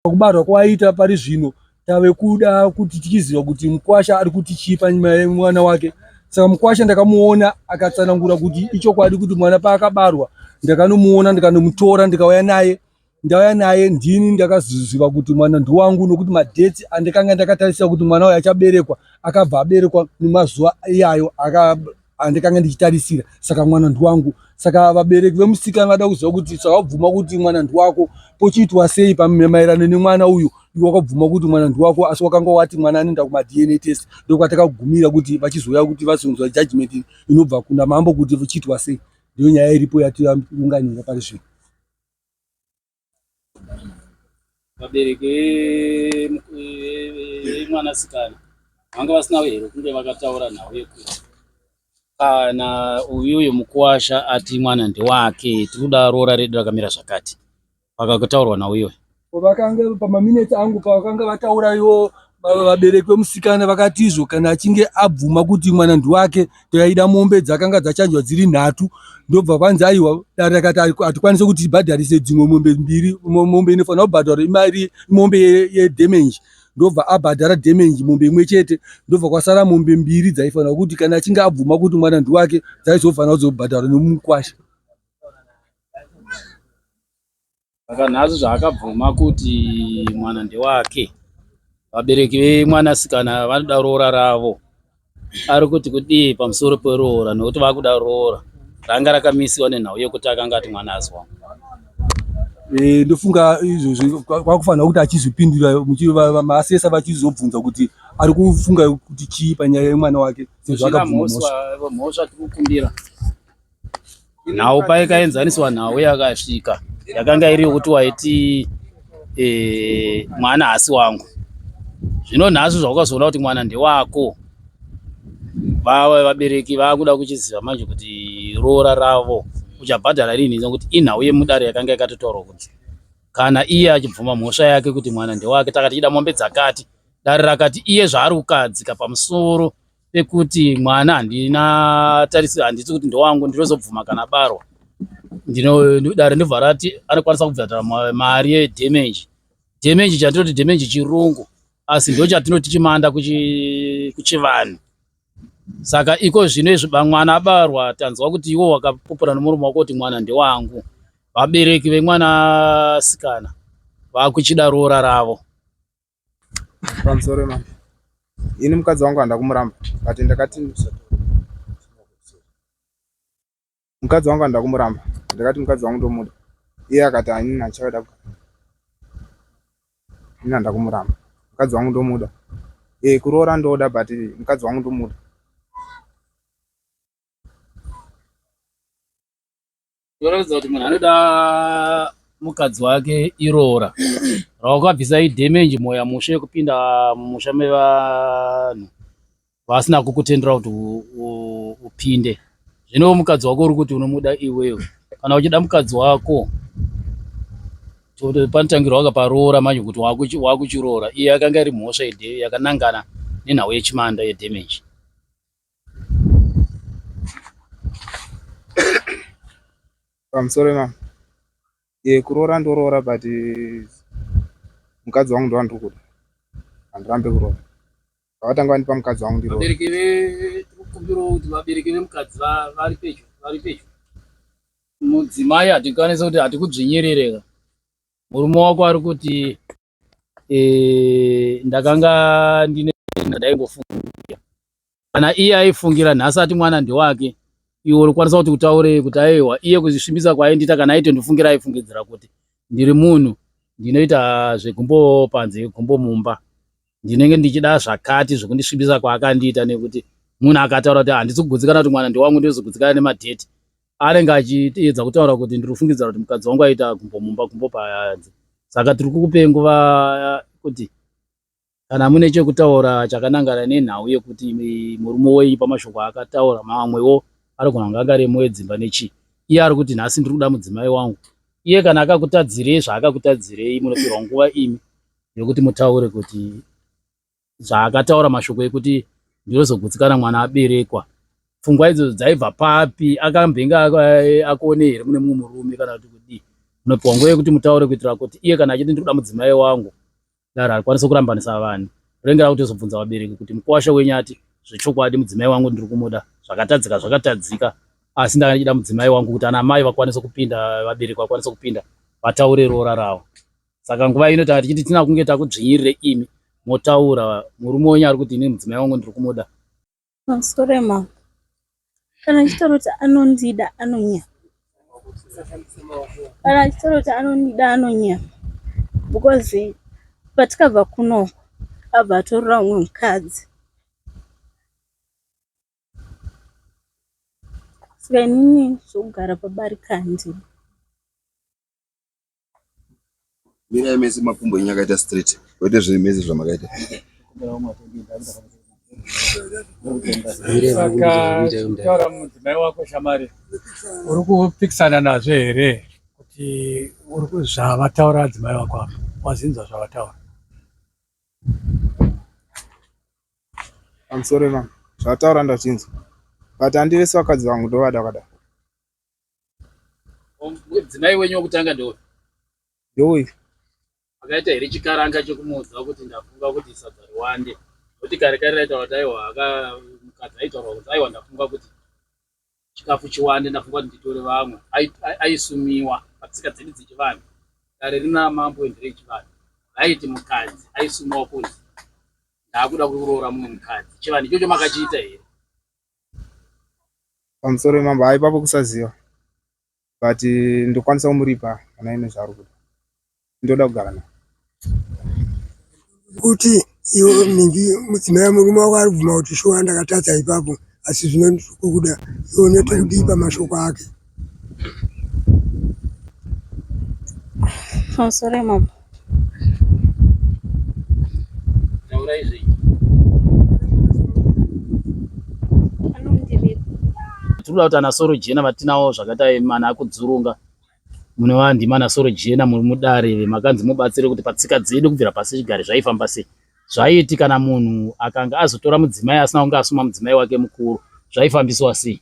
Kubarwa kwaita pari zvino tave kuda kuti tichiziva kuti mukwasha ari kuti chii panyima yemwana wake saka mukwasha ndakamuona akatsanangura kuti ichokwadi kuti mwana paakabarwa ndakanomuona ndikanomutora ndikauya naye ndauya naye ndini ndakaziziva kuti mwana ndiwangu nokuti madheti andikanga ndakatarisa kuti mwana uyo achaberekwa akabva aberekwa nemazuva iyayo aka andikange ndichitarisira saka mwana ndiwangu saka vabereki vemusikana vada kuziva kuti saka wabvuma kuti mwana ndiwako pochiitwa sei pamaerano nemwana uyu iwe wakabvuma kuti mwana ndiwako asi wakanga wati mwana anoenda kumadna test ndokwatakagumira kuti vachizouya kuti vazonzwa judgment inobva kuna mambo kuti uchiitwa sei ndiyo nyaya iripo yatiunganira pari zvino vabereki vemwanasikana vanga vasina hero kunge vakataura nhau yekuti kana uyu uyu mukuwasha ati mwana ndewake tiri kuda roora redu rakamira zvakati vakakutaurwa nauyoyo vakange pamaminetsi angu pavakanga vataura iwo Vabereki vemusikana vakatizvo kana achinge abvuma kuti mwana ndiwake taida mombe dzakanga dzachanjwa dziri nhatu ndobva vanzi aiwa dare rakati hatikwanise kuti tibhadharise dzimwe mombe mbiri mombe inofanira kubhadhara imari mombe yedamage ndobva abhadhara damage mombe imwe chete ndobva kwasara mombe mbiri dzaifanira kuti kana achinge abvuma kuti mwana ndiwake dzaizofanira kuzobhadhara nemukwasha saka nhasi zvaakabvuma kuti mwana ndewake vabereki vemwanasikana vanoda roora ravo ari kuti kudii pamusoro peroora nekuti vakuda roora ranga rakamisiwa nenhau yekuti akanga ati mwana azwa Eh, ndofunga izvozvi kwakufanira kuti achizvipindura maasesa vachizobvunza kuti ari kufunga kuti chii panyaya yemwana wake sezvo akabvumamhosva tikukumbira nhau paikaenzaniswa nhau yakasvika yakanga iri yokuti waiti e, mwana hasi wangu zvino nhasi zvaukazoona kuti mwana ndewako vava vabereki vakuda kuchiziva manje kuti roora ravo uchabhadhara rinhi nokuti inhau yemudare yakanga yakatotaurwa kuti kana iye achibvuma mhosva yake kuti mwana ndewake takati ida mombe dzakati dare rakati iye zvaari kukadzika pamusoro pekuti mwana handina tarisiro handiti kuti ndowangu ndinozobvuma kana barwa dare ndobva rati anokwanisa kubvadhara mari yedamage damage chatinoti damage chirungu asi ndo chatinoti chimanda kuchivanhu saka iko zvino izvi bamwana abarwa tanzwa kuti iwo wakapupura nomurume wako kuti mwana ndewangu vabereki vemwana asikana vakuchida roora ravo pamusoro imama ini mukadzi wangu handa kumuramba but ndakati mukadzi wangu handa kumuramba ndakati mukadzi wangu ndomuda iye akati anini achaoda ini handa kumuramba mukadzi wangu ndomuda e kuroora ndoda but mukadzi wangu ndomuda Zvinoratidza kuti munhu anoda mukadzi wake iroora rawakabvisa idhemenji mwoya mushe yekupinda mumusha mevanhu vasina kukutendera kuti upinde zvino mukadzi wako uri kuti unomuda iwewe kana uchida mukadzi wako panotangirwa waka paroora manje kuti wakuchiroora iye yakanga iri mhosva yakanangana nenhau yechimanda yedhemenji I'm sorry mama. Ye kuroora ndoroora but eh, mukadzi wangu ndovandiri kuda. Handirambe kuroora. Vakatanga vandipa mukadzi wangu ndiroora. Vabereki ve kumbiro kuti vabereki vemukadzi va- vari pedyo vari pedyo. Mudzimai hatikwanise kuti hatikudzvinyirire ka. Murume wako ari kuti eh, ndakanga ndine ndaingofungira kana iye aifungira nhasi ati mwana ndewake iwe uri kwanisa kuti utaurei kuti aiwa iye kuzvisvimbisa kwaaindiita kana aito ndifungira aifungidzira kuti ndiri munhu ndinoita zvegumbo panze gumbo mumba ndinenge ndichida zvakati zvekundisvibisa kwaakandiita nekuti munhu akataura kuti handisi kugutsikana kuti mwana ndewangu ndizogutsikana nemadheti anenge achiedza kutaura kuti ndiri kufungidzira kuti mukadzi wangu aita gumbo mumba gumbo payanzi saka tiri kukupe nguva kuti kana mune chekutaura chakanangana nenhau yekuti murume wenyu pamashoko aakataura mamwewo anogona kunge angaremo edzimba nechii iye ari kuti nhasi ndiri kuda mudzimai wangu iye kana akakutadzirei zvaakakutadzirei munopirwa nguva imi yekuti mutaure kuti zvaakataura mashoko ekuti ndinozogutsikana mwana aberekwa pfungwa idzo dzaibva papi akambenge akuone here mune mumwe murume kana kuti kudii unopiwa nguva yekuti mutaure kuitira kuti iye kana achiti ndiri kuda mudzimai wangu daro akwanise kurambanisa vanhu renge rakutozobvunza vabereki kuti mukwasha wenyu ati zvechokwadi mudzimai wangu ndiri kumuda zvakatadzika zvakatadzika asi ndakachida mudzimai wangu kuti ana mai vakwanise kupinda vabereki vakwanise kupinda vataure roora ravo saka nguva ino tanga tichiti tina kunge takudzvinyirire imi motaura murume wenyu ari kuti ini mudzimai wangu ndiri kumuda masore mama kana achitaura kuti anondida anonyama kana achitaura kuti anondida anonyama because patikabva kuno abva atorora umwe mukadzi saka inini zvokugara pabarika handii Mirai mese makumbo enyu akaita straight kwete zvinhu mese zvamakaita. Vakataura mudzimai wako shamari uri kupikisana nazvo here kuti zvavataura adzimai vako ava wazinzwa zvavataura? I'm sorry mama, zvavataura ndazvinzwa but handivese vakadzi vangu ndovada vakadaro. Mudzimai wenyu wokutanga ndeuyu? Ndeuyu. Makaita here chikaranga chekumuudza kuti ndafunga kuti sadza riwande? Nokuti kare kare raitaura kuti aiwa mukadzi aitaurwa kuti aiwa ndafunga kuti chikafu chiwande ndafunga kuti nditore vamwe. Aisumiwa patsika dzedu dzechivanhu. Dare rina mambo endere echivanhu raiti mukadzi aisumiwa kunzi ndaakuda kuroora mumwe mukadzi. Chivanhu ichocho makachiita here? Pamusoro wemambo haa ipapo kusaziva but ndokwanisa kumuripa kana aine zvaari kuda ndoda kugara naye kuti iwe mingi mudzimai murume wako ari kubvuma kuti shuwa ndakatadza ipapo asi zvino ndiri kukuda iwe unoita kudii pamashoko ake Oh, sorry mom. Taura izvi. Tinoda kuti ana soro jena vatinawo zvakadai mana akudzurunga mune vandi mana soro jena muri mudare vemakanzi mubatsire kuti patsika dzedu kubvira pasi chigare zvaifamba sei zvaiti kana munhu akanga azotora mudzimai asina kunge asuma mudzimai wake mukuru zvaifambiswa sei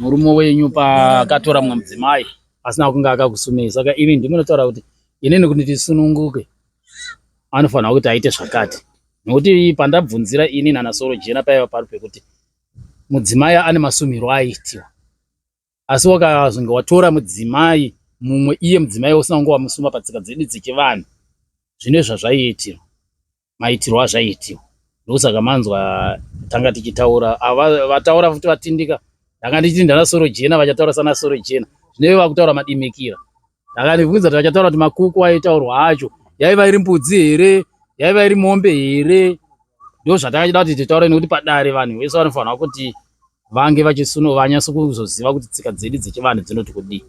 Murume wenyu paakatora mumwe mudzimai asina kunge akakusumei saka imi ndimunotaura kuti inini kuti tisununguke anofanirwa kuti aite zvakati nokuti pandabvunzira ini nana soro jena paiva pari pekuti mudzimai ane masumiro aitiwa asi wakazonge watora mudzimai mumwe iye mudzimai usina kunge wamusuma patsika dzedu dzechivanhu zvine zvazvaiitirwa maitirwo azvaiitiwa ndokusaka manzwa tanga tichitaura vataura futi vatindika ndanga ndichiti ndana soro jena vachataura sana soro jena zvineve vakutaura madimikira ndanga ndibvunza kuti vachataura kuti makuku aitaurwa acho yaiva iri mbudzi here yaiva iri mombe here ndo zvatangachida kuti titaure nekuti padare vanhu vese vanofanirwa kuti vange vachisunu vanyasa kuzoziva kuti tsika dzedu dzechivanhu dzinoti kudii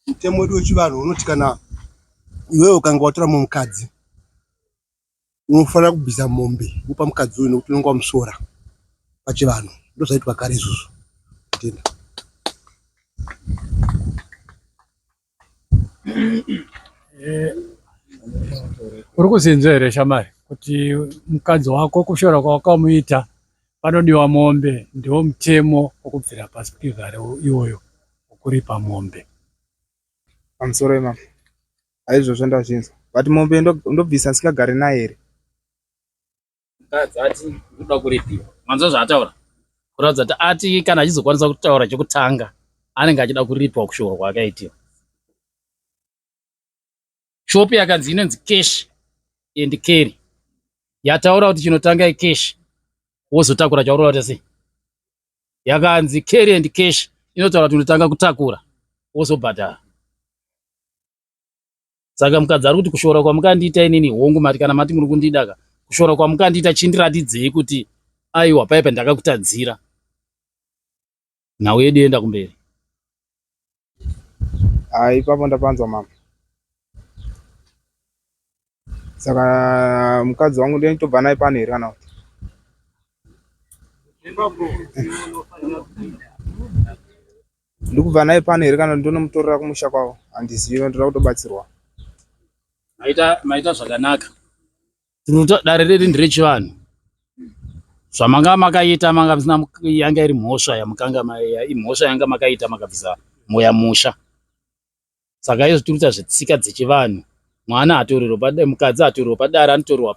Mutemo wedu wechivanhu unoti kana iwewe ukanga watora mumwe mukadzi unofanira kubvisa mombe wopa mukadzi uyu nokuti unenge wamusora pachivanhu ndozvaitwa kare izvozvo tenda eh, uri kuzinzwa here shamari kuti mukadzi wako kushora kwawakamuita Panodiwa mombe ndiwo mutemo wokubvira pasi pekugara iwoyo wokuripa mombe. Pamusoro imam aizvozvo ndazvinzwa but mombe ndobvisa ndisingagare naye here? Mukadzi ati ndikuda kuripiwa. Manzwa zvaataura? Kuratidza kuti ati kana achizokwanisa kutaura chokutanga anenge achida kuripiwa kushuwa kwaakaitiwa. shop yakanzi inonzi cash and carry yataura kuti chinotanga icash wozotakura chaurora kuti sei yakanzi carry and cash inotaura kuti unotanga kutakura wozobhadhara saka mukadzi ari kuti kushora kwamukandiita inini hongu mati kana mati muri kundidaka kushora kwamukandiita chindiratidzei kuti aiwa paipa ndakakutadzira nhau yedu yoenda kumberi. Ah, ipapo ndapanzwa mama. Saka mukadzi wangu ndiye nditobva naye pano here kana kuti? Ndikubva naye pano here kana ndonomutorera kumusha kwavo? Handizivi, ndoda kutobatsirwa. Maita maita zvakanaka. dare riri nderechivanhu zvamanga makaita manga musina yanga iri mhosva yamukanga imhosva yanga makaita makabvisa moya musha saka izvo tiri kuita zvetsika dzechivanhu mwana atorerwa mukadzi atorerwa padare anotorerwa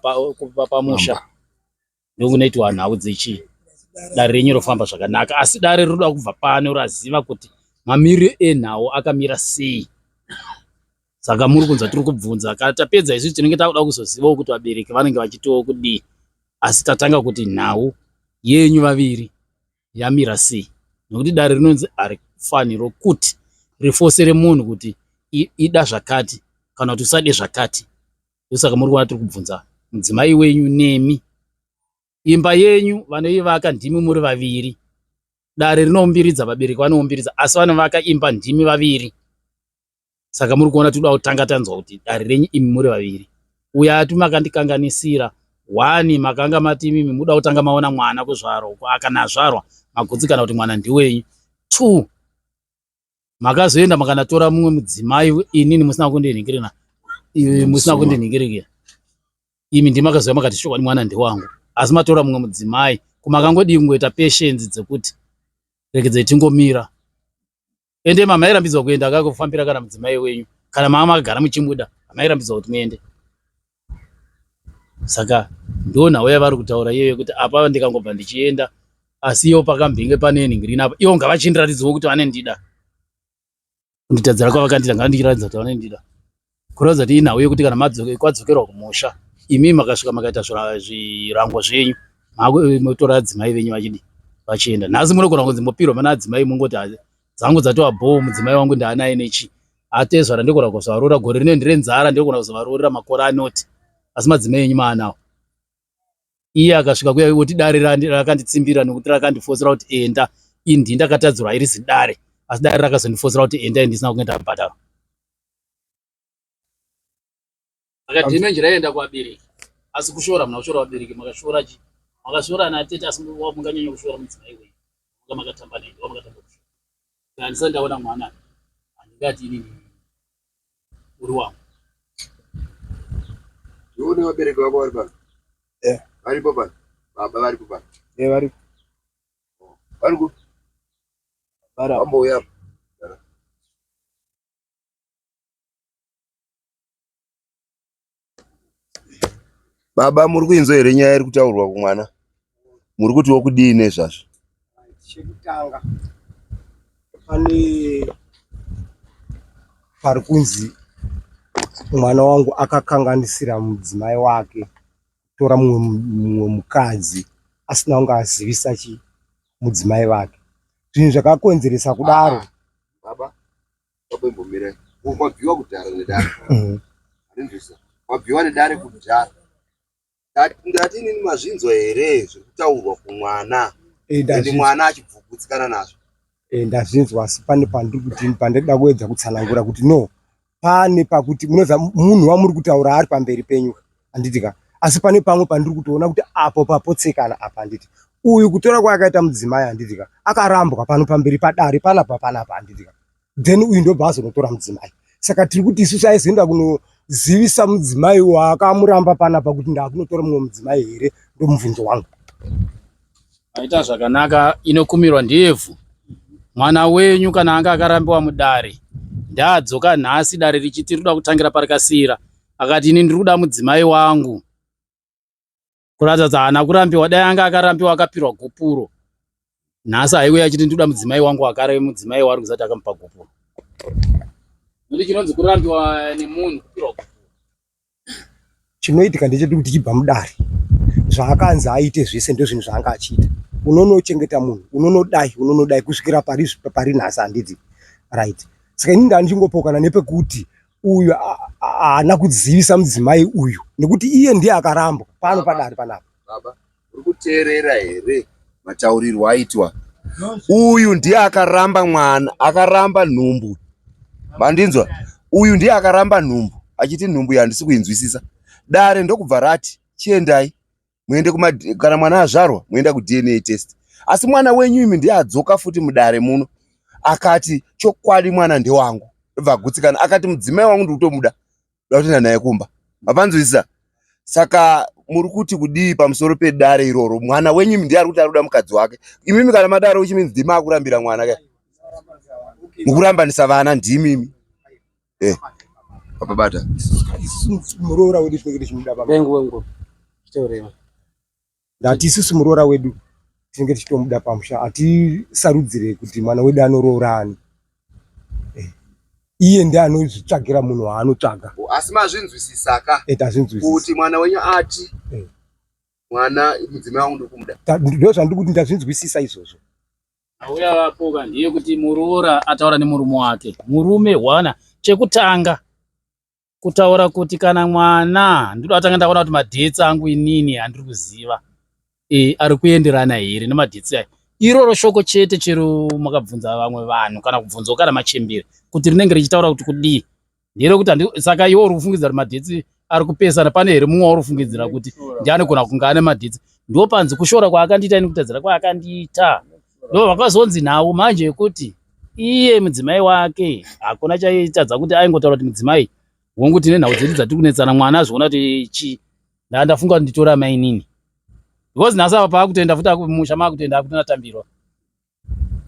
pamusha ndokunoitwa nhau dzechii dare renyu rofamba zvakanaka asi dare rinoda kubva pano raziva kuti mamiriro enhau akamira sei saka muri kunzwa tiri kubvunza kana tapedza isu tinenge takuda kuzozivawo kuti vabereki vanenge vachitiwo kudii asi tatanga kuti nhau yenyu vaviri yamira sei nokuti dare rinonzi harifanirwo kuti rifosere munhu kuti ida zvakati kana kuti usade zvakati ndosaka muri kuona tiri kubvunza mudzimai wenyu nemi imba yenyu vanoivaka ndimi muri vaviri dare rinoumbiridza vabereki vanoumbiridza asi vanovaka imba ndimi vaviri saka muri kuona tinoda kutanga tanzwa kuti dare renyu imi muri vaviri uya ati makandikanganisira wani makanga mati imimi muda kutanga maona mwana kuzvarwa kana azvarwa magutsikana kuti mwana ndiwenyu two makazoenda makanatora mumwe mudzimai inini musina kundinhingirina musina kundinhingirikira imi ndimakazouya makati chokwadi mwana ndewangu asi matora mumwe mudzimai kumakangodii kungoita patience dzekuti regedzai tingomira ende mama airambidzwa kuenda akakufambira kana mudzimai wenyu kana mama makagara muchimuda mama airambidzwa kuti muende Saka ndo nhau yavari kutaura iyoyo kuti apa ndikangobva ndichienda asi iwo pakambenge pane nhingirini apa iwo ngavachindiratidzawo kuti vanendida kunditadzira kwavakandida ngavandiratidza kuti vanendida kuratidza kuti inhau yekuti kana kwadzokerwa kumusha imi makasvika makaita zvirango zvenyu motora adzimai venyu vachidi vachienda nhasi munogona kunzi mopirwa mana adzimai mongoti dzangu dzatova bhoo mudzimai wangu ndaanaye nechii atezva randikona kuzvarura gore rino ndire nzara ndikona kuzovarurira makore anoti asi madzimai enyu maanawo iye akasvika kuya oti dare rakanditsimbira nokuti rakandifosera kuti enda indi ndakatadzirwa iri zidare asi dare rakazondifosera kuti enda indisina kunge ndabhadharwa akadhina njira yaienda kuvabereki asi kushora muna kushora vabereki makashora chi makashora ana tete asi munganyanya kushora mudzimai wenyu nga makatamba naye nga makatamba kushora kana ndisati ndaona mwana handingati inini uri wangu ndione vabereki vako vari pano eh. varipo pano baba varipo pano e varipo oh. vari kupi vambouyapo Baba muri kuinzwa here nyaya iri kutaurwa kumwana? Muri kutiwo kudii nezvazvo? Chekutanga pane pari kunzi mwana wangu akakanganisira mudzimai wake kutora mumwe mukadzi asina kunge azivisa chi mudzimai vake zvinhu zvakakonzeresa kudaro baba Wabembomirai. Uko kwabviwa kudhara nedare. Mhm. Hanzvisa. Kwabviwa nedare kudhara. Ndati ndati inini mazvinzwa here zviri kutaurwa kumwana. Eh, Ende ndazvinzwa. mwana achibvugutsikana nazvo. Eh, ndazvinzwa asi pane pandiri kuti pandida kuedza kutsanangura kuti no pane pakuti munoza munhu wamuri kutaura ari pamberi penyu handiti ka asi pane pamwe pandiri kutoona kuti apo papotsekana apa handiti uyu kutora kwaakaita mudzimai handiti ka akarambwa pano pamberi padare panapa panapa handiti ka then uyu ndobva azonotora mudzimai saka tiri kuti isusu aizoenda kunozivisa mudzimai waakamuramba panapa kuti ndakunotora mumwe mudzimai here ndomubvunzo wangu aita zvakanaka inokumirwa ndevhu mwana wenyu kana anga akarambiwa mudare ndaadzoka nhasi dare richiti rinoda kutangira parikasira akati ini ndiri kuda mudzimai wangu kuratidza kuti haana kurambiwa dai anga akarambiwa akapirwa gupuro nhasi haiwe achiti ndiri kuda mudzimai wangu akareve mudzimai waari kuzati akamupa gupuro nokuti chinonzi kurambiwa nemunhu kupirwa gupuro chinoitika ndecheti kuti chibva mudare zvaakanzi aite zvese ndozvinhu zvaanga achiita unonochengeta munhu unonodai unonodai kusvikira pari nhasi handiti right saka ini ndandichingopoukana nepekuti uyu haana kudzivisa mudzimai uyu nekuti iye ndiye akarambwa pano padare panapa baba uri kuteerera here mataurirwo aitwa uyu ndiye akaramba mwana akaramba nhumbu mandinzwa uyu ndiye akaramba nhumbu achiti nhumbu yandisi kuinzwisisa dare ndokubva rati chiendai muende kuma kana mwana azvarwa muenda kudna test asi mwana wenyu imi ndiye adzoka futi mudare muno akati chokwadi mwana ndewangu ndobva agutsikana akati mudzimai wangu ndiri kutomuda nda kutoenda naye kumba mapanzwisisa saka muri kuti kudii pamusoro pedare iroro mwana wenyu imi ndiye ari kuti ari kuda mukadzi wake imimi kana madaro uchiminzi ndimi akurambira mwana ka mukurambanisa vana ndimimi Eh. Papa bata. Muroora wedu tinenge tichimuda papa. Bengu wengu. Chiteurema. Ndati isusu muroora wedu tinenge tichitomuda pamusha atisarudzire kuti mwana wedu anoroora ani. Eh. Iye ndiye anozvitsvagira munhu waanotsvaga. Asi mazvinzwisisaka. Eh, tazvinzwisisa. Kuti mwana wenyu ati. Eh. Mwana mudzimai wangu ndikumuda. Ndozvandikuti ndazvinzwisisa izvozvo. Auya vapoka ndiye kuti muroora ataura nemurume wake. Murume hwana chekutanga kutaura kuti kana mwana ndiri atanga ndaona kuti madhetsi angu inini andiri kuziva e, ari kuenderana here nemadhetsi ayo. Iroro shoko chete chero makabvunza vamwe vanhu kana kubvunzawo kana machembere kuti rinenge richitaura kuti kudii. ndere kuti saka iwe uri kufungidzira kuti madetsi ari kupesana pane here mumwe wauri kufungidzira kuti ndi anogona kunge ane madetsi ndo panzi kushora kwaakandiita ini kutadzira kwaakandiita ndo vakazonzi nhau manje yekuti iye mudzimai wake hakuna chaitadza kuti aingotaura kuti mudzimai hongu tine nhau dzedu dzatiri kunetsana mwana azviona kuti chi ndaa ndafunga kuti nditora mainini because nhasi apa paakutoenda futi akumusha maakutoenda akutonatambirwa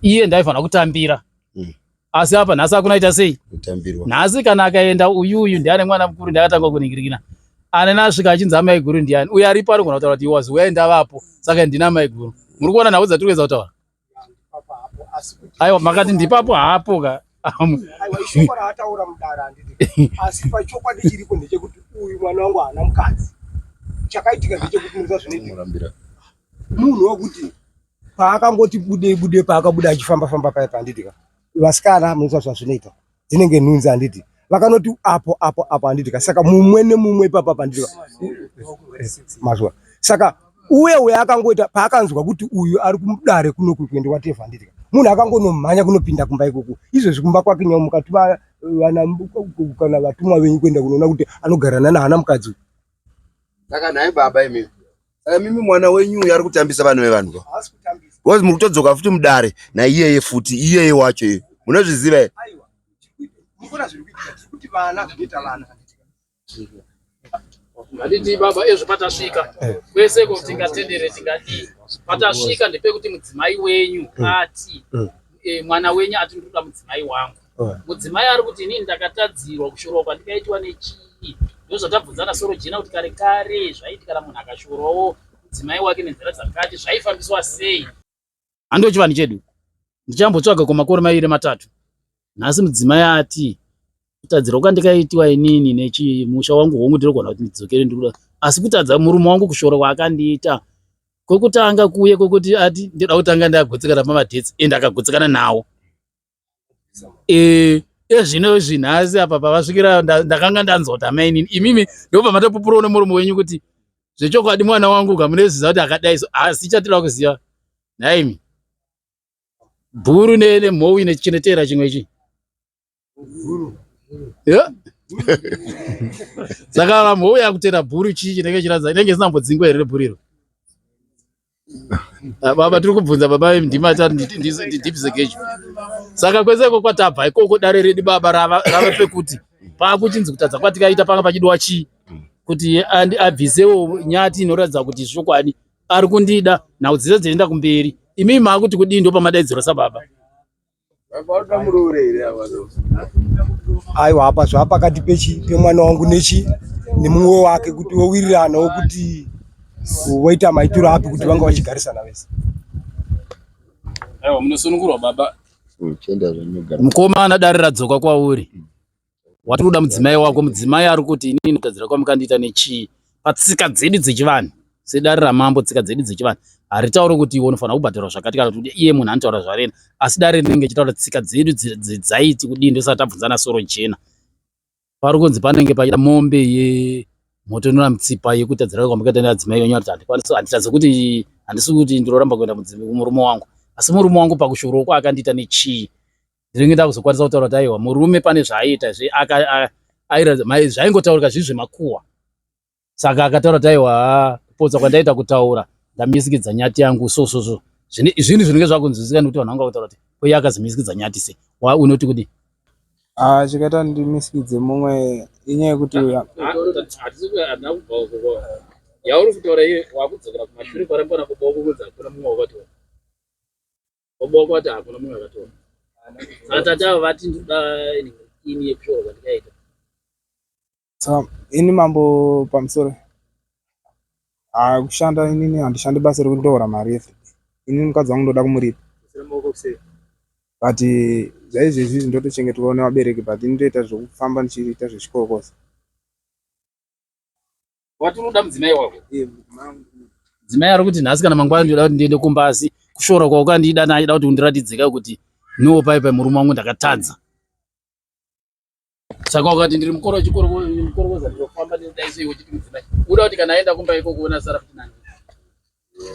iye ndaifanira kutambira mm. asi apa nhasi akunaita sei nhasi kana akaenda uyu uyu ndiani mwana mukuru ndiakatanga kuningirikina anene asvika achinzi amaiguru ndiani uyo aripo anogona kutaura kuti was where ndavapo saka ndina maiguru muri kuona nhau dzatiri kuedza kutaura aiwa makati ndipapo haapo ka chakaitika ndechekuti munhu wekuti paakangoti bude bude paakabuda achifamba famba paya panditi ka vasikana munoita zvazvinoita dzinenge nhunzi handiti vakanoti apo apo apo handiti ka saka mumwe nemumwe ipapa panditi ka mazwa saka uye uye akangoita paakanzwa kuti uyu ari kumudare kuno kuende wateva handiti ka munhu akangonomhanya kunopinda kumba ikoko izvezvi kumba kwake nyama mukati vana kana vatumwa venyu kuenda kunoona kuti anogarana nahana mukadzi saka nhai baba imimi Saka mimi mwana wenyu uyu ari kutambisa vanhu vevanhu ka? Haasi kutambisa. Because muri kutodzoka futi mudare naiyeye futi iyeye wacho iye. Munozviziva here? Aiwa. Mukona zviri kuitika kuti vana zvinoita vana. Handiti baba ezvo patasvika eh. kwese ko tingatendere tingadii patasvika ndepekuti mudzimai wenyu mm. ati mm. eh, mwana wenyu ati ndinoda mudzimai wangu Mudzimai ari kuti inini ndakatadzirwa kushorwa kwandikaitwa nechii ndozvatabvunzana soro jena kuti kare kare zvaiti kana munhu akashorwawo mudzimai wake nenzira dzakati zvaifambiswa sei hando chivanhu chedu ndichambotsvaga kwemakore maviri matatu nhasi mudzimai ati kutadzirwa kwandikaitiwa inini nechii musha wangu hongu ndinogona kuti ndidzokere ndikuda asi kutadza murume wangu kushora kwaakandiita kwekutanga kuye kwekuti ati ndida kutanga ndagutsikana pamadhesi ende akagutsikana nawo eh ezvino eh, izvi nhasi apa pavasvikira ndakanga ndanzwa kuti amainini imimi ndobva matopupurawo nemurume wenyu kuti zvechokwadi mwana wangu kamuneziva kuti akadai so asi chatira kuziva nhaimi bhuru nemhowi nechinetera chimwe chi saka mhowi yakutera bhuru chii chinenge chiradza inenge isina mbodzingwa here rebhuru iro baba tiri kubvunza baba ndima ndidipise gejo saka kwese iko kwatabva ikoko dare redu baba rava pekuti pakuchinzi kutadza kwatikaita panga pachidiwa chii kuti abvisewo nyati inoratidza kuti zvokwadi ari kundida nhau dzese dzinoenda kumberi imii maakuti kudii ndo pamadaidziro sababa aiwa apa zvava pakati pechi pemwana wangu nechi nemumwe wake kuti vowiriranawo kuti voita maitiro api kuti vanga vachigarisana vese munosunungurwa baba hmm, mukoma anadare radzoka kwauri watiri kuda mudzimai wako mudzimai ari kuti inini ndotadzira kwamukandiita nechii patsika dzedu dzechivanhu sedare ramambo tsika dzedu dzechivanhu haritauri kuti iwe unofanira kubhadharwa zvakati kana kuti iye munhu anotaura zvarena asi dare rinenge chitaura tsika dzedu dzaiti kudii ndosati tabvunzana soro jena pari kunzi panenge paita mombe ye motonora mutsipa yekutadzira kwamakaita neadzimai venyu ariti handikwanisi handitadze kuti handisi kuti ndinoramba kuenda murume wangu asi murume wangu pakushoroko akandiita nechii ndinenge ndakuzokwanisa kutaura kuti aiwa murume pane zvaaiita zve zvaingotaurika zvii zvemakuwa saka akataura kuti aiwa kupotsa kwandaita kutaura ndamisikidza nyati yangu so so so zvine izvini zvinenge zvakunzwisika nekuti vanhu vanga kutaura kuti koiye akazimisikidza nyati se wa unoti kudi ah, chikaita ndimisikidze mumwe inyaya yekuti yauri kutaura iye wakudzokera kumashure parambana kubaukukudza hakuna mumwe wakatiwa Baba wako vati hakuna munhu akatora. Saka tati ava vati ndoda ini yekushora kwandikaita. Saka ini mambo pamusoro ah, kushanda inini handishandi basa rekuti ndohora mari yefe. Ini mukadzi wangu ndoda kumuripa. But zvaizvezvi izvi ndotochengetwa nevabereki but ini ndoita zvekufamba ndichiita zvechikorokoza. Wati unoda mudzimai wako? Eh, mudzimai ari kuti nhasi kana mangwana ndinoda kuti ndiende kumba asi kushora kwaukandida naida kuti undiratidzeka kuti no pai pai murume wangu ndakatadza. Saka wakati ndiri mukoro wechikoro mukoro woza ndinofamba ndinodai sei wechiti mudzimai. Unoda kuti kana aenda kumba ikoko kuona sara kuti nani.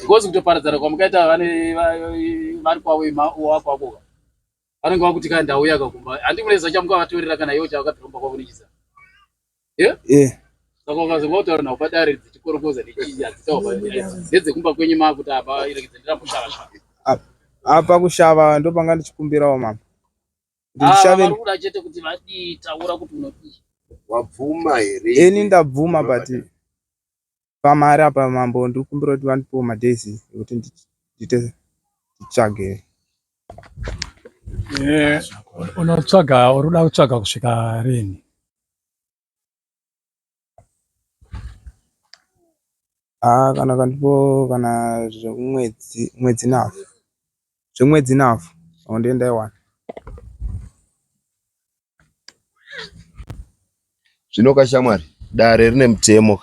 Ngozi kutoparadzana kwamukaita vane vari kwavo wako wako. vanenge vakuti kana ndauya ka kumba handi mureza chamuka vatorera kana iwo chawakatiromba kwakunikisa yeah? yeah. saka ukazonga kutaura navo padare dzichikorokoza nechii adzitawa ndedzekumba kwenyu maakuti apa irekidze ndiramushava shava apa kushava ndopanga ndichikumbirawo mama ndichishavakuda ah, chete kuti vadii taura kuti unodii wabvuma here ini ndabvuma but pamari apa mambo ndikumbira kuti vandipewo madays ekuti ndiite nditsvage eh, unotsvaga uri kuda kutsvaga kusvika rini ah, kana kandipo kana zvemwedzi mwedzi navo zvemwedzi navo or ndendaiwana zvino kashamwari dare rine mutemo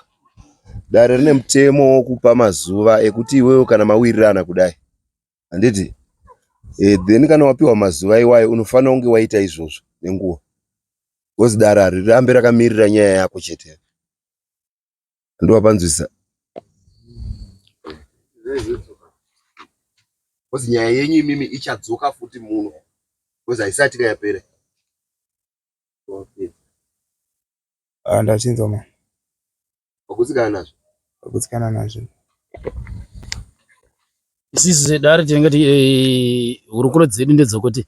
dare rine mutemo wokupa mazuva ekuti iwewe kana mawirirana kudai handiti e, then kana wapiwa mazuva iwayo unofanira kunge waita izvozvo nenguva bcause dare harirambe rakamirira nyaya yako chete ndowapanzwisa kozi nyaya yenyu imimi ichadzoka futi muno kozi haisati kayapera ah, ndachinzwa ma wakutsikana nazvo wakutsikana nazvo isisu sedare tinenge ti eh, hurukuro dzedu ndedzokuti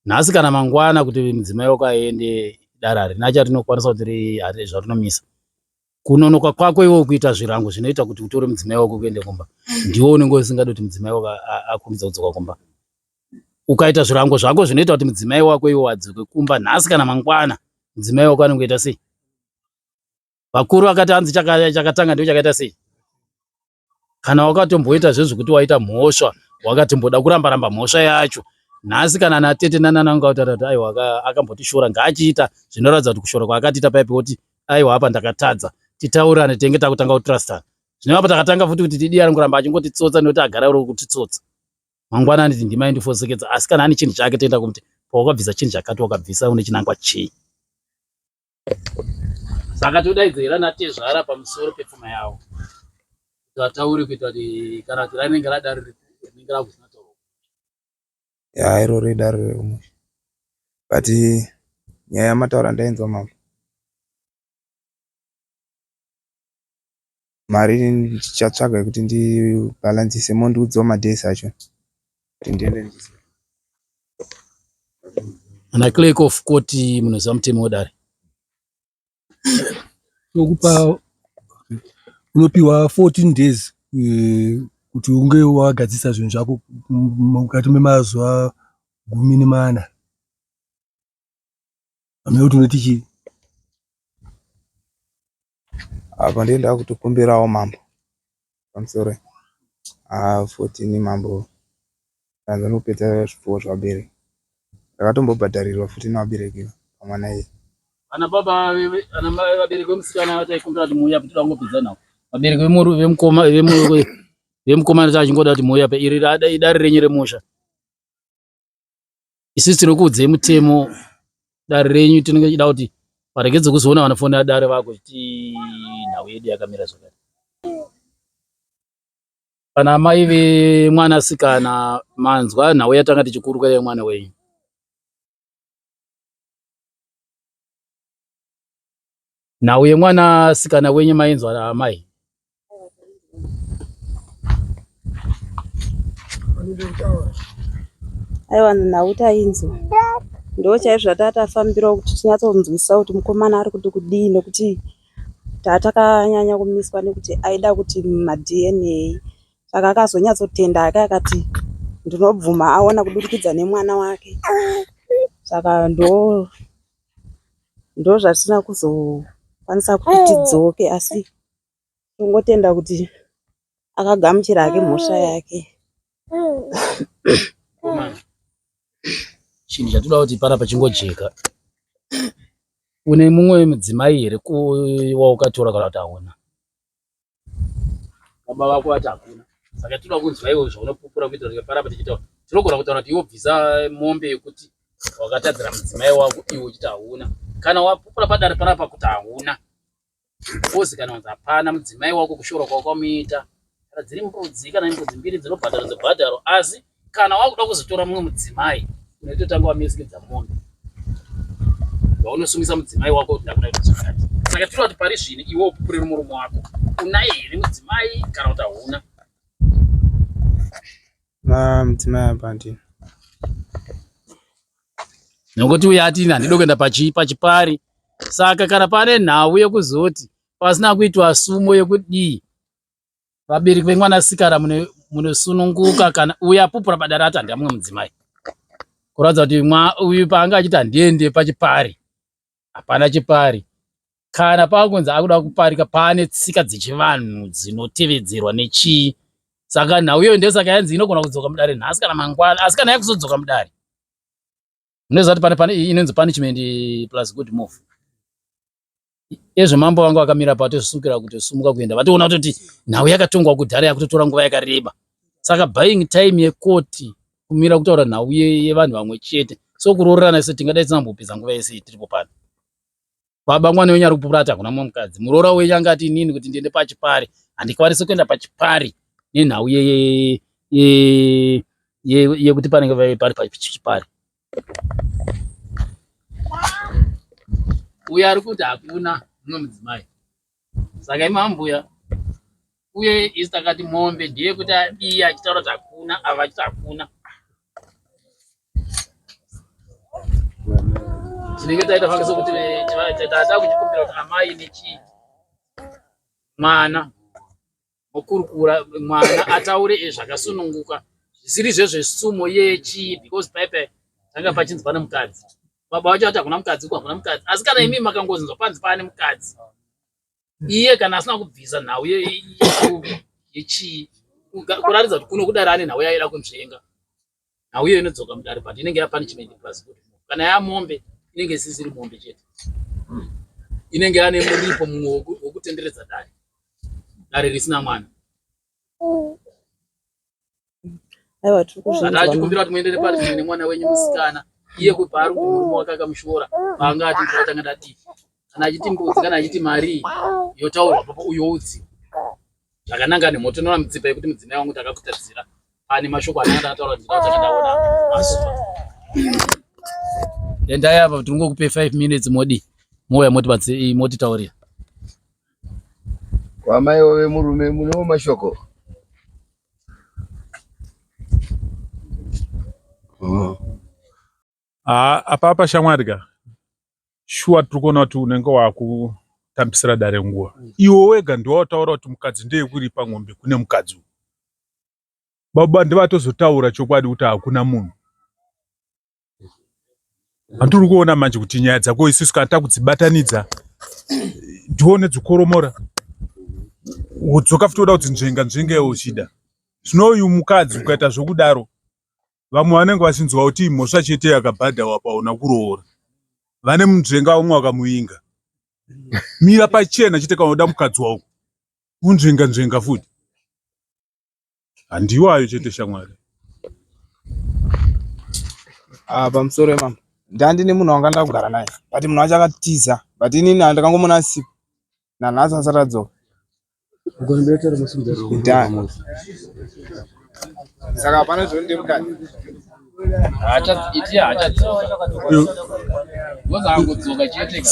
nhasi kana mangwana kuti mudzimai wako aende dare harina charinokwanisa kuti zvarinomisa kunonoka kwako iwe kuita zvirango zvinoita kuti utore mudzimai wako kuende kumba ndiwo unenge usingadi kuti mudzimai wako akurumidza kudzoka kumba ukaita zvirango zvako zvinoita kuti mudzimai wako iwe wadzoke kumba nhasi kana mangwana mudzimai wako anenge ita sei vakuru vakati hanzi chakatanga ndiyo chakaita sei kana wakatomboita zvezvekuti waita mhosva wakatimboda kuramba ramba mhosva yacho nhasi kana natete nanananga kutaura kuti aiwa akambotishora ngaachiita zvinoratidza kuti kushora kwaakatiita paipi woti aiwa apa ndakatadza titaurane tenge takutanga kutrustana zvine apa takatanga futi kuti tidiya ringoramba achingotitsotsa nekuti agara uri kutitsotsa mangwana anditi ndima indifoseketsa asi kana ane chinhu chake toenda kumuti pawakabvisa chinhu chakati wakabvisa une chinangwa chii saka todaidzira natezvara pamusoro pepfuma yavo vataure kuita kuti kana kuti rainenge radari rinenge rakusina tauro ya iro ridari reumwe but nyaya yamataura ndainzwa mambo mari ndichatsvaga yekuti ndi balancise mondiudzawo madays acho kuti ndiende ana clerk of court munoziva mutemo wedare tokupa unopiwa 14 days eh, kuti unge wagadzisa zvinhu zvako mukati memazuva gumi nemana Amai kuti unoiti chii? Apa ndiye ndakutokumbirawo mambo. I'm sorry. Ah, 14 mambo. Tanza nopedza zvipfuwo zvabereki. Ndakatombobhadharirwa futi nevabereki pamwana iyi. Ana baba ana mai vabereki vemusikana vataikumbira kuti muuya kuti vangopedza nawo. Vabereki vemuru vemukoma vemuru vemukoma vachingoda kuti muuya pa iri idari renyu remusha. Isusu tinokuudzei mutemo dare renyu tinenge tichida kuti paregedze kuzoona vanofonera dare vako chiti nhau yedu yakamira zvakati. Kana amai vemwana sikana manzwa nhau yatanga tichikurukura yemwana wenyu. nhau yemwana sikana wenyu mainzwa amai aiwa nhau tainzwa ndo chaizvo zvatatafambirawo kuti tinyatsonzwisisa kuti mukomana ari kuti kudii nekuti tatakanyanya kumiswa nekuti aida kuti madna saka akazonyatsotenda hake akati ndinobvuma aona kudurikidza nemwana wake saka ndo ndozvatisina kuzokwanisa kuti tidzoke asi tongotenda kuti akagamuchira hake mhosva yake chinhu chatinoda kuti pana pachingojeka une mumwe mudzimai here waukatora kana kuti hauna baba vako vati hakuna saka tinoda kunzwa iwo zvaunopupura kuita kuti paramba tichitaura tinogona kutaura kuti iwo bvisa mombe yekuti wakatadzira mudzimai wako iwo uchiti hauna kana wapupura padare panapa kuti hauna ozi kana wanzi hapana mudzimai wako kushora kwako kwamuita kana dziri mbudzi kana mbudzi mbiri dzinobhadharo dzebhadharo asi kana wakuda kuzotora mumwe mudzimai unoitotanga wamesikidza munhu waunosungisa mudzimai wako kuti ndakuda kuti zvakati saka tinoda kuti pari zvino iwe upupurire murume wako unaye here mudzimai kana kuti hauna na mudzimai apa ndini nokuti uye atini handidi kuenda pachipari saka kana pane nhau yekuzoti pasina kuitwa sumo yekudii vabereki vemwanasikana munosununguka kana uyo apupura padare ati handiamwe mudzimai kuratidza kuti uyu paanga achiti handiende pachipari hapana chipari kana pakunzi akuda kuparika paane tsika dzechivanhu dzinotevedzerwa nechii saka nhau iyoyo ndesaka yanzi inogona kudzoka mudare nhasi kana mangwana asi kana yakuzodzoka mudare munoziva kuti pane pane inonzi punishment plus good move ezvo mambo vanga vakamira pato zvosukira kuti sumuka kuenda vatoona kutoti nhau yakatongwa kudhara yakutotora nguva yakareba saka buying time yekoti kumira kutaura nhau yevanhu vamwe chete so kuroorana se tingadai tisinambopedza nguva yese tiripo pano baba mwana wenyu ari kupupura ati hakuna mumwe mukadzi muroora wenyu anga ati inini kuti ndiende pachipari handikwanisi kuenda pachipari nenhau yekuti panenge vave pari pachipari uyo ari kuti hakuna mumwe mudzimai saka imi ambuya uye isi takati mombe ndiye kuti adii achitaura kuti hakuna ava achiti hakuna tinenge taita fanga sokuti taada kuchikumbira kuti amai nechii mwana mokurukura mwana ataure zvakasununguka zvisiri zvezvesumo yechii because paipai tanga pachinzwa nemukadzi baba vacho vati hakuna mukadzi uku hakuna mukadzi asi kana imi makangozinzwa panzi paane mukadzi iye kana asina kubvisa nhau yechii kuraridza kuti kuno kudari ane nhau yaida kunzvenga nhau iyo inodzoka mudare but inenge ya punishment plus good kana yamombe inenge isisiri mombe chete hmm. inenge yane muripo mumwe wokutenderedza dare dare risina mwana aiwa tiri kuzvinzwa achikumbira kuti muendere pari zvimwe nemwana wenyu musikana iye kubva ari kuti murume wake akamushora paanga ati ndatanga ndati kana achiti mbudzi kana achiti mari yotaurwa papo uyo utsi zvakananga nemhoto inoona mutsipa yekuti mudzimai wangu takakutadzira pane mashoko ananga ndakataura kuti ndakataona mazuva endai apa tiri ngokupe five minutes modi mouya motitaurira kwamai wave murume munewo mashoko oh. Haa apapa shamwari ka shuwa tiri kuona kuti unenge wakutambisira dare nguva iwo wega ndiwo wataura kuti mukadzi ndeyekuripa ngombe kune mukadzi uyu baba ndivatozotaura chokwadi kuti hakuna munhu andiri kuona manje kuti nyaya dzako isusu kana takudzibatanidza ndione dzikoromora wodzoka futi woda kuti nzvenga nzvenga iwe uchida zvino uyu mukadzi ukaita zvokudaro vamwe vanenge vachinzwa kuti imhosva chete yakabhadhawa paona kuroora vane munzvenga umwe wakamuvinga mira pachena chete kana uda mukadzi wauko unzvenga nzvenga futi handiwayo chete shamwari ah, pamusoro wemama ndandine munhu wanga ndakugara naye but munhu wacho akatiza but inini andakangomona asipo nanhasi asati adzoka saka hapana zvonde mukati iti haachadzoka wozangudzoka chete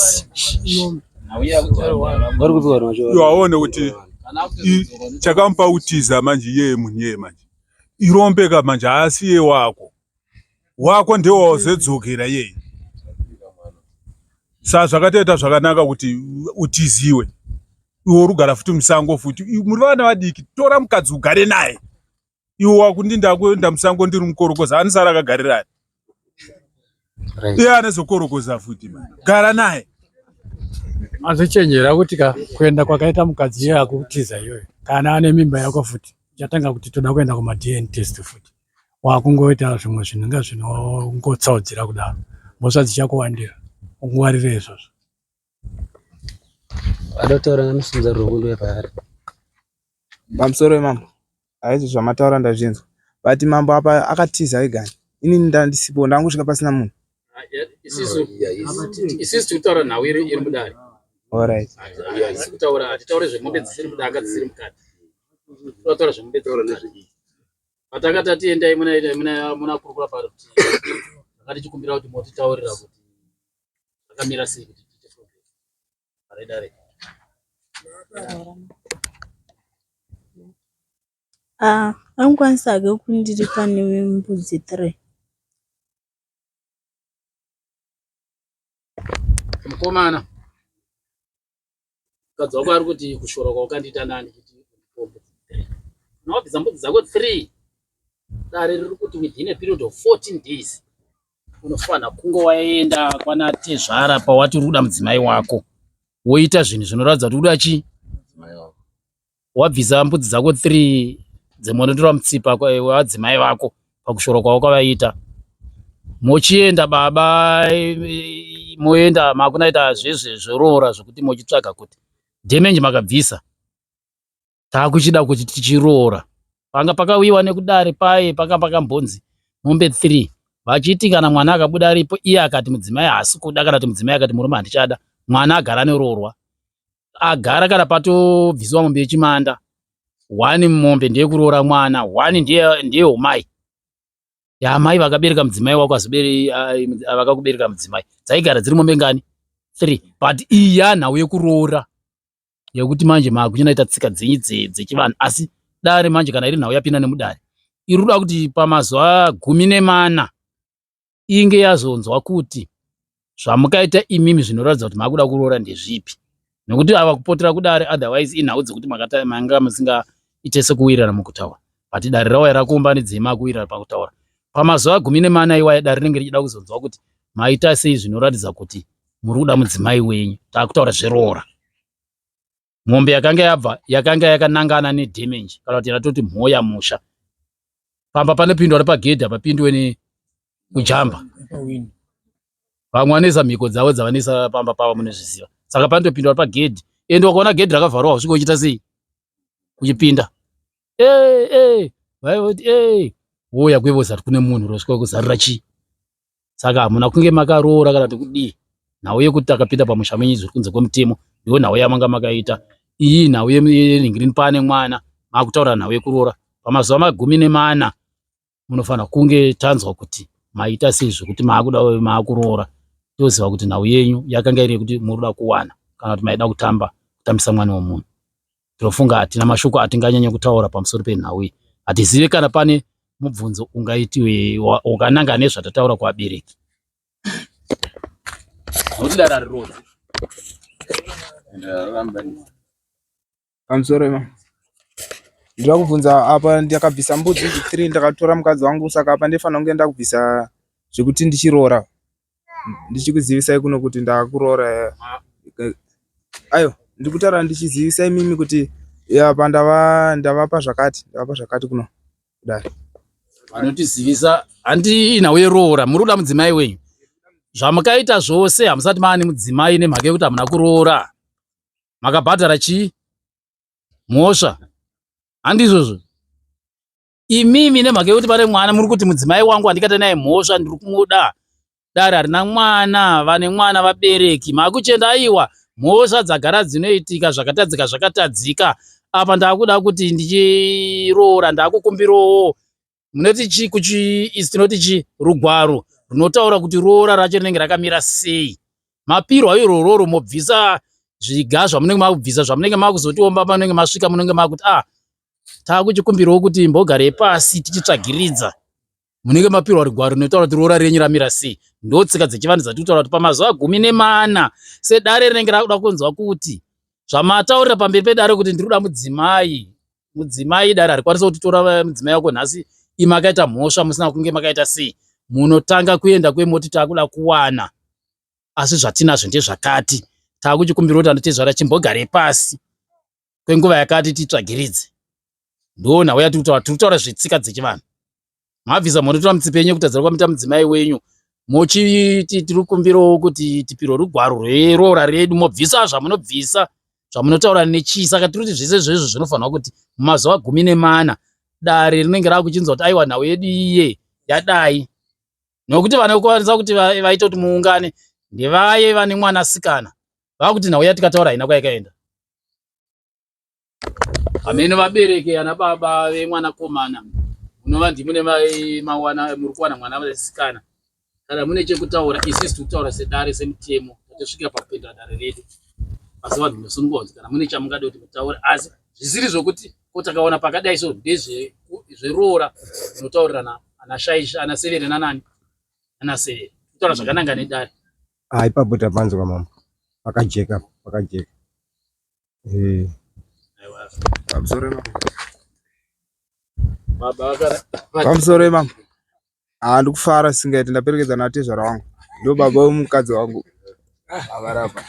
vari kupiwa rwacho aone kuti chakamupa kutiza manje iyeye munhu iyeye manje irombeka manje haasi iye wako wako ndiwo wazodzokera iyeye sa zvakatoita zvakanaka kuti utiziwe iwe urugara futi musango futi muri vana vadiki tora mukadzi ugare naye iwe wakundi ndakuenda musango ndiri mukorokoza anisara akagarirani iye anezokorokoza futi ma gara naye azochenjera kuti ka kuenda kwakaita mukadzi iye akutiza iyoyo kana ane mimba yako futi chatanga kuti toda kuenda kumadn test futi wakungoita zvimwe zvinhu inga zvinongotsaudzira kudaro mhosva dzichakuwandira ungwarire izvozvo adotaura ngamisunza rwekundo yapaari pamusoro wemambo haizvo zvamataura ndazvinzwa but mambo apa akatiza egani ini ndandisipo ndangosvika pasina munhu isisu tikutaura nhau iri mudare orit kutaura hatitaure zvemombe dzisiri mudanga dzisiri mukati tinotaura zvemombe patakati atiendai munakurukura paruti akati chikumbira kuti motitaurira kuti akamira sei kuti tiite progress paredare ah, angikwanisa hake kundiri pane mbudzi three mukomana mukadzi wako ari kuti kushora kwaukandiita nani kuti mbudzi three unawabvisa mbudzi dzako three dare riri kuti within a period of 14 days unofanira kunge waenda kwana tezvara pawati uri kuda mudzimai wako woita zvinhu zvinoratidza kuti uda chii wabvisa mbudzi dzako 3 dzemonotora mutsipa wadzimai vako pakushoro kwawakavaita mochienda baba moenda makunaita zvezve zvoroora zvekuti mochitsvaga kuti damage makabvisa takuchida kuti tichiroora panga pakawiwa nekudare paye paka pakambonzi mombe 3 vachiti kana mwana akabuda aripo iye akati mudzimai haasi kuda kana kuti mudzimai akati murume handichada mwana agara neroorwa agara kana patobviswa mombe yechimanda one mombe ndeyekuroora mwana one ndeyomai yamai vakabereka mudzimai wako vakakubereka mudzimai dzaigara dziri mombe ngani three but iyi yanhau yekuroora yekuti manje makuchinaita tsika dzenyu dzechivanhu asi dare manje kana iri nhau yapinda nemudare iri kuda kuti pamazuva gumi nemana inge yazonzwa kuti zvamukaita imimi zvinoratidza kuti makuda kuroora ndezvipi nokuti ava kupotera kudare otherwise inhau dzekuti manga musingaite sekuwirirana mukutaura but dare rawaya rakuumbanidza imakuwirira pakutaura pamazuva gumi nemana iwaya dare rinenge richida kuzonzwa kuti maita sei zvinoratidza kuti muri kuda mudzimai wenyu takutaura zveroora mombe yakanga yabva yakanga yakanangana nedamage kana kuti yatoti mhoya musha pamba panopindwa nepagedhi hapapindwe nekujamba vamwe vanoisa mhiko dzavo dzavanoisa pamba pavo munozviziva saka panotopindwa nepagedhi ende wakaona gedhi rakavharwa usvika uchiita sei uchipinda ee ee vaivoti ee woya kwevozati kune munhu rosvika kuzarira chii saka hamuna kunge makaroora kana kuti kudii nhau yekuti takapinda pamusha menyu zviri kunze kwemutemo ndiyo nhau yamanga makaita iyi nhau yenhingirini paane mwana makutaura nhau yekuroora pamazuva magumi nemana munofanira kunge tanzwa kuti maita sei zvekuti maakuda maakuroora toziva kuti nhau yenyu yakanga iri yekuti muri kuda kuwana kana kuti maida kutamba kutambisa mwana wemunhu Ndinofunga hatina mashoko atinganyanye kutaura pamusoro penhau iyi. Hatizive kana pane mubvunzo ungaiti wakananga nezvatataura kuvabereki. Nokuti dara rirodzi. Pamusoro ema. Ndinoda kubvunza apa ndakabvisa mbudzi three ndakatora mukadzi wangu saka apa ndinofanira kunge ndakubvisa zvekuti ndichiroora. ndichikuzivisai kuno kuti ndakuroora ayo ndiri kutaura ndichizivisa imimi kuti apa ndava ndavapa zvakati ndavapa zvakati kuno kudari vanotizivisa handi nhau yeroora muri kuda mudzimai wenyu zvamukaita zvose hamusati maane mudzimai nemhaka yekuti hamuna kuroora makabhadhara chii mhosva handi izvozvo imimi nemhaka yekuti pane mwana muri kuti mudzimai wangu handikate naye mhosva ndiri kumuda dare harina mwana vane mwana vabereki makuchenda aiwa mhosva dzagara dzinoitika zvakatadzika zvakatadzika apa ndakuda kuti ndichiroora ndakukumbirawo munoti chi kuchiisi tinoti chi rugwaro runotaura kuti roora racho rinenge rakamira sei mapirwa irororo mobvisa zviga zvamunenge makubvisa zvamunenge makuzotiomba panenge masvika munenge makuti ah takuchikumbirawo kuti mbogare pasi tichitsvagiridza munenge mapirwa rigwaro rinotaura kuti roora renyu ramira sei ndo tsika dzechivanhu dzatiri kutaura kuti pamazuva gumi nemana sedare rinenge rakuda kunzwa kuti zvamataurira pamberi pedare kuti ndiri kuda mudzimai mudzimai dare harikwanisa kutitora eh, mudzimai wako nhasi i makaita mhosva musina kunge makaita sei munotanga kuenda kwemoti takuda kuwana asi zvatinazvo ndezvakati takuchikumbira kuti anotezvara chimbogare pasi kwenguva yakati titsvagiridze ndoo nhau yatiri kutaura tiri kutaura zvetsika dzechivanhu mabvisa monotora mutsipe yenyu yekutadzira kwamita mudzimai wenyu mochiti tiri kumbirawo kuti tipirwe rugwaro rweroora redu mobvisa zvamunobvisa zvamunotaura nechii saka tiri kuti zvese zvezvo zvinofanirwa kuti mumazuva gumi nemana dare rinenge rava kuchinzwa kuti aiwa nhau yedu iye yadai nokuti vane kukwanisa kuti vaita kuti muungane ndevaye vane mwanasikana vava kuti nhau yatikataura haina kwayakaenda hameno vabereki ana baba vemwanakomana unova ndimune mawana muri kuwana mwana vesikana kana mune chekutaura isisi tikutaura sedare semutemo tatosvika pakupindura dare redu asi vanhu munosunungwa kuti kana mune chamungade kuti mutaure asi zvisiri zvokuti ko takaona pakadai so ndezveroora zvinotaurirana ana shaishi ana severe nanani ana severe kutaura zvakananga nedare Ah, ipapo tapanzwa mama. Pakajeka, pakajeka. Eh. Pamusoro mama. Baba vakara. Pamusoro mama. Ah, ndikufara singaiti ndaperekedza na tezvara wangu. Ndo baba wemukadzi wangu. Avarapa.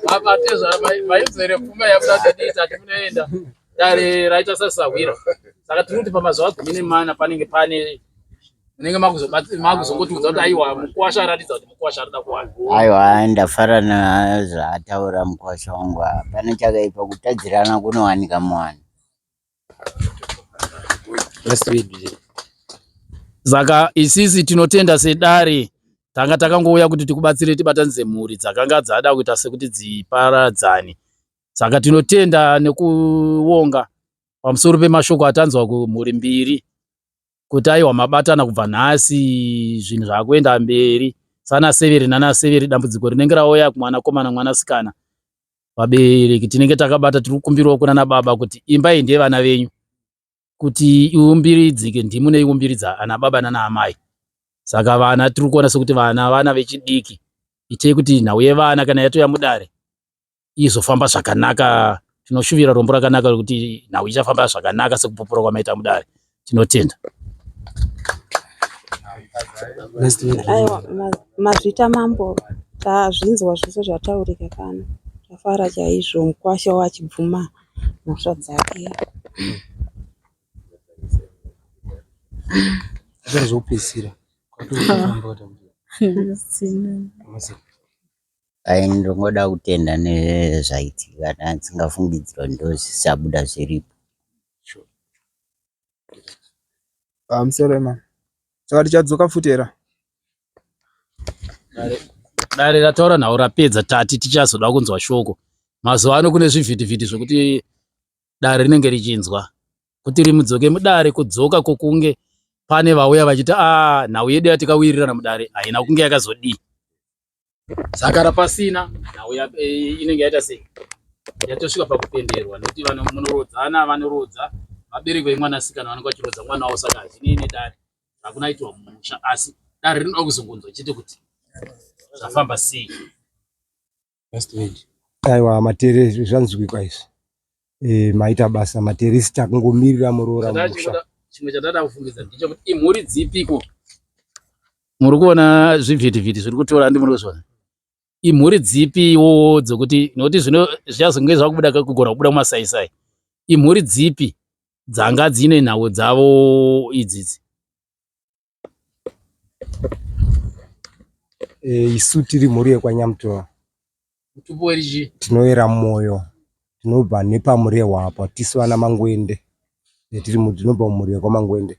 Baba tezvara vaizere pfuma yabuda tatiita timunoenda. dare raita sasahwira saka tiri kuti pamazuva gumi nemana panenge pane munenge makuzokotiudza kuti aiwa mukwasha aratidza kuti mukwasha arida kuwana aiwa ndafara nazvaataura mukwasha wangu hapana chakaipa kutadzirana kunowanika muwani saka isisi tinotenda sedare tanga takangouya kuti tikubatsire tibatanidze mhuri dzakanga dzada kuita sekuti dziparadzane saka tinotenda nekuonga pamusoro pemashoko atanzwa kumhuri mbiri kuti aiwa mabatana kubva nhasi zvinhu zvakuenda mberi sana severi nana severi dambudziko rinenge rauya kumwana komana mwana sikana vabereki tinenge takabata tiri kukumbirawo kunana baba kuti imba iyi ndeyevana venyu kuti iumbiridzike ndimu neiumbiridza ana baba nana amai saka vana tiri kuona sekuti vana vana vechidiki itei kuti nhau yevana kana yatoya mudare izofamba zvakanaka tinoshuvira rombo rakanaka rekuti nhau ichafamba zvakanaka sekupupura kwamaita mudare tinotenda aiwa mazvita mambo tazvinzwa zvese zvataurika kana tafara chaizvo mukwasha wachibvuma mhosva dzake zvazopedzisira Ayy ndongoda kutenda nezvaitika ndandsingafungidzira kuti ndozvichabuda zviripo sure. Pamusoro ma. Saka tichadzoka futi era. Dare rataura nhau rapedza tati tichazoda kunzwa shoko. Mazuva ano kune zvivhitivhiti zvekuti dare rinenge richinzwa. Kuti rimudzoke mudare kudzoka kokunge pane vauya vachiti ah nhau yedu yatikawirirana mudare haina kunge yakazodii. sakara pasina nhau eh, inenge yaita sei yatosvika pakupenderwa nekuti vanhu munorodzana vanorodza vabereki vemwanasikana vanenge vachirodza mwana wavo saka hazvinei nedare hakuna aitiwa mumusha asi dare rinoda kuzongonzwa chete kuti zvafamba sei aiwa matere zvanzwikwa izvi Eh, maita basa materisita kungomirira muroora musha. Chimwe chatada kufungidzira ndicho kuti imhuri dzipiko muri kuona zvivhitivhiti zviri kutora ndi muri kuzviona imhuri dzipiwo dzokuti nokuti zvino zvichazonge zvakubuda kugona kubuda mumasaisai imhuri dzipi dzanga dzine nhau dzavo idzidzi Eh, isu tiri mhuri yekwanyamutora tinoyera mwoyo tinobva nepamurehwa apa tisu vana mangwende eh, tiri tinobva mumhuri yekwamangwende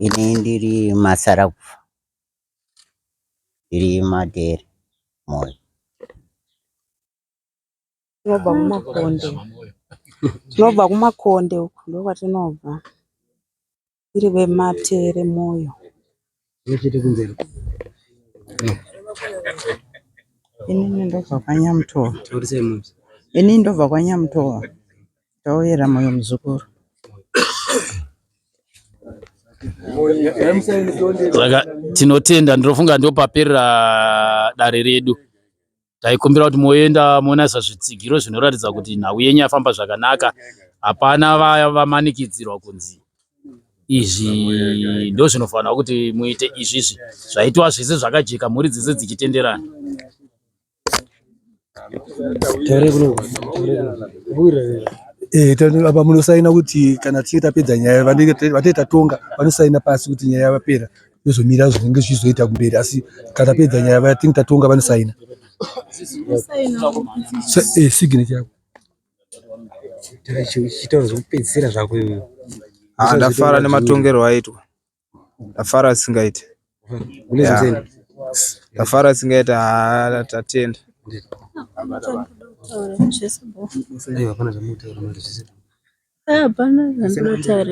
ini ndiri masarakufa ndiri madere mwoyo tinobva kumakonde tinobva kumakonde uku ndokwatinobva iri vematere moyo chete kumberi inini ndobva kwanyamutova inini ndobva kwanyamutova tauyera moyo muzukuru saka tinotenda ndinofunga ndopaperera dare redu taikumbira kuti moenda monasa zvitsigiro zvinoratidza kuti nhau yenyu yafamba zvakanaka hapana vaya vamanikidzirwa kunzi izvi ndo zvinofanira kuti muite izvizvi zvaitwa zvese zvakajeka mhuri dzese dzichitenderana eh, apa munosaina kuti kana tichinge tapedza nyaya vanenge vatee tatonga vanosaina pasi kuti nyaya yapera tozomirira zvinenge zvichizoita kumberi asi kana tapedza nyaya vaya think tatonga vanosaina eh, signature yako chitauro zvekupedzisira zvako iwe ah, ndafara nematongerwo aitwa ndafara asingaiti ndafara asingaiti ah, tatenda hapana zvandotaura